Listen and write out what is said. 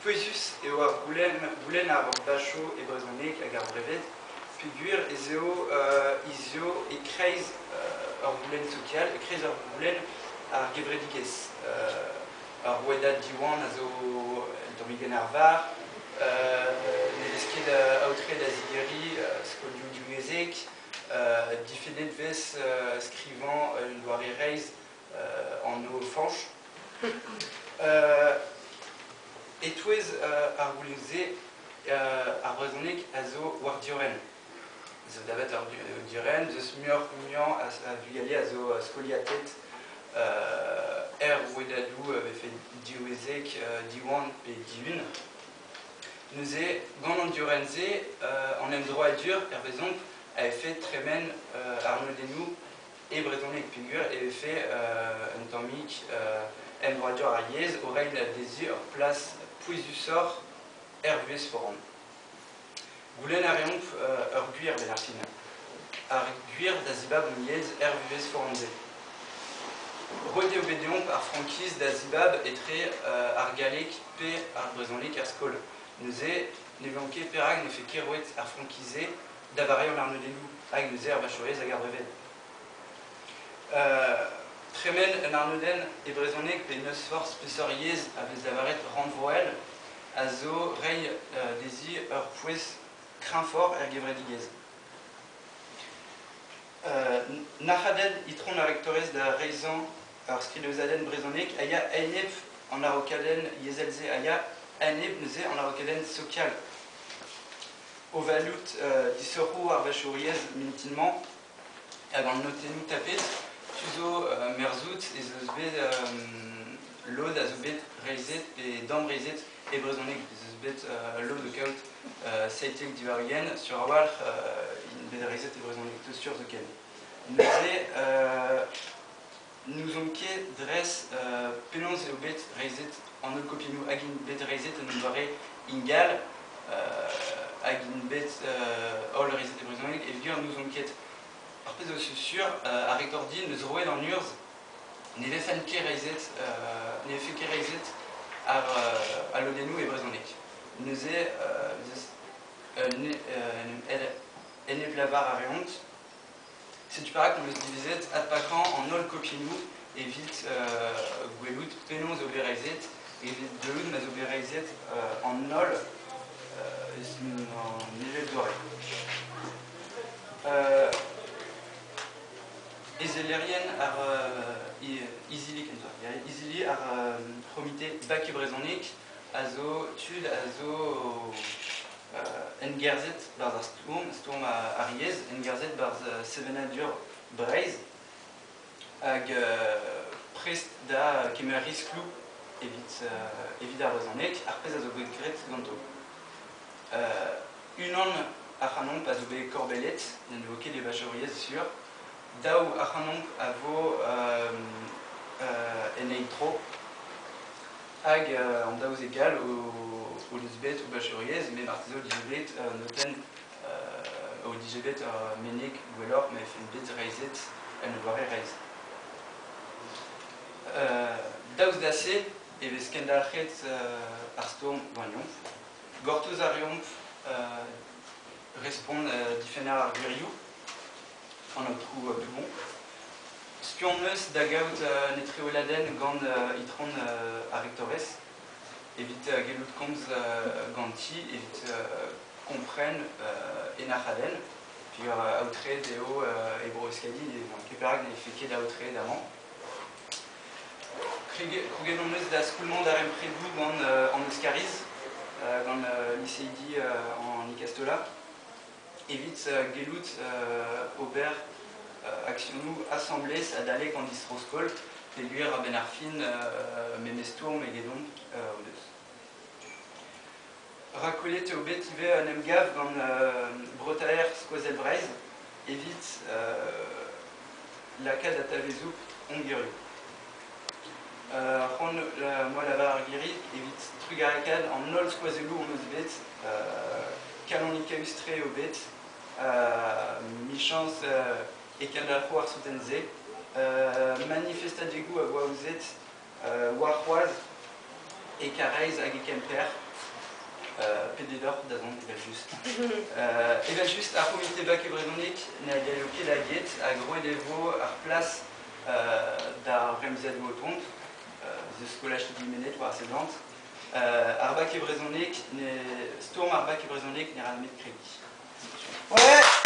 Pouezus eo ar goulenn ar vachoù e brezhoneg hag ar breved peogwir ez eo hizio e-kreiz ur goulenn sokial, e-kreiz ur goulenn ar gevredigezh. Ar rouedad Diwan a zo un tammig en arvar, ne vez ket aotre da zigeriñ skolioù diwyezhek, difennet 'vez skrivañ un doare reizh anv Fañch. E-touez ar goulioù-se, ar brezhoneg a zo war diorren. Zo davet ar diorren, deus muioc'h-muiañ a vugale a zo skoliatet er rouedadoù a vefe diwezek, Diwan pe Dihun. Neuze, gant an diorren-se, an emdroadur, hervezomp, a fait tremen arnodennoù e brezhoneg peogwir e vefe un tammig emvroadur ar yezh o reiñ dezhi ur plas pouezusoc'h er vuhez foran. Goulenn a reomp ur gwir benn ar fin. Ar gwir da zibab hon yezh er vuhez foran-se. Roet eo bet deomp ar frankiz da zibab etre ar galleg pe ar brezhoneg er skol. Neuze ne vleomp ket perak ne fait ket roet ar frankiz-se da varean ar neudennoù hag o zer vachourez hag ar breved. Euh, tremen un arnodenn e brezhoneg pe n'eus forzh peseurt yezh a vez lavaret rannvroel a zo reiñ euh, dezi ur pouez kreñfort er gevredigezh. Euh, Nac'hadenn itron ar rektorez da reizhañ ur skridozadenn brezhonek a ya enep an araokadenn yezhel-se a ya enep neuze an araokadenn sokial. o valut disoc'hoù arvechouriezh mintin-mañ hag an notennoù tapet. Tu zo merzout ez eus bet lod a zo bet reizhet pe damreizhet e brezhoneg ez eus bet lod o kaout seitek diwar ugent sur a-walc'h int bet reizhet e brezhoneg zo sur zoken. Neuze n'ouzon ket dres penaos eo bet reizhet an hollkopiennoù hag int bet reizhet en un doare ingal hag int bet holl reizhet e brezhoneg e vir n'ouzon ket ar pezh zo sur ar rektor din eus roet an urzh ne vefent ket reizhet ne vefe ket reizhet ar lodennoù e brezhoneg neuze en em lavar a reont Setu perak em eus divezet adpakañ an holl kopiennoù evit gwelout penaos eo bet reizhet, evit deuet ma zo bet reizhet an holl eus an evezh-doare. Ezellerien ar izili kentoc'h, izili ar c'homite Baku brezhoneg a zo tud a zo engerzhet barzh ar stourm, stourm ar yezh, engerzhet barzh sevenadur Breizh, hag prest da kemer riskloù evit, evit ar brezhoneg, ar pezh a zo bet graet ganto. unan ac'hanomp a zo bet korbellet, n'en vo ket evajouriezh sur, daou ac'hanomp a vo en ein tro, hag an daouzek gall o deus bet o bacheuriezh, met marteze o dije bet notenn o dije bet ur meneg gwelloc'h ma vefe bet reizhet un doare reizh. daoust da se e vez kendalc'het ar stourm gwagnomp. Gortoz a reomp respont difenner ar gwirioù an aotrou Dumont. Spi hon eus da gaout un etreoladenn gant itron ar rektores evit gellout komz ganti, evit kompren e nac'hadenn. Peogwir aotreet eo e Bro-Euskadi, ne van ket perak nefe ket aotreet amañ. Krouget hon eus da skoulmañ darempredoù gant an Euskariz, gant liseidi an Ikastola. evit gellout ober aksionoù asambles adalek an distro-skol peogwir a-benn ar fin memes stourm egedomp o deus. Rakwelet eo bet ivez un emgav gant Breutaer Skozel Breizh evit lakaat atavezout Hongrie. Ar c'hoant moa lavaret girit evit trugarekaat an holl skoazelloù hon eus bet, kalonikaus-tre eo bet, michañs e kendalc'ho ar souten-se, manifestadegoù a voa ouzet warc'hoazh e Karaez hag e Kemper, pede deoc'h da zont evel-just. evel-just, ar c'homite bac e brezhoneg na gallo ket da get, hag roet e vo ar plas d'ar remzadou o tont, the scolars to be managed war sedant, ar bac e brezhoneg, ne, stourm ar bac e brezhoneg ne ra nemet kredi. Ouais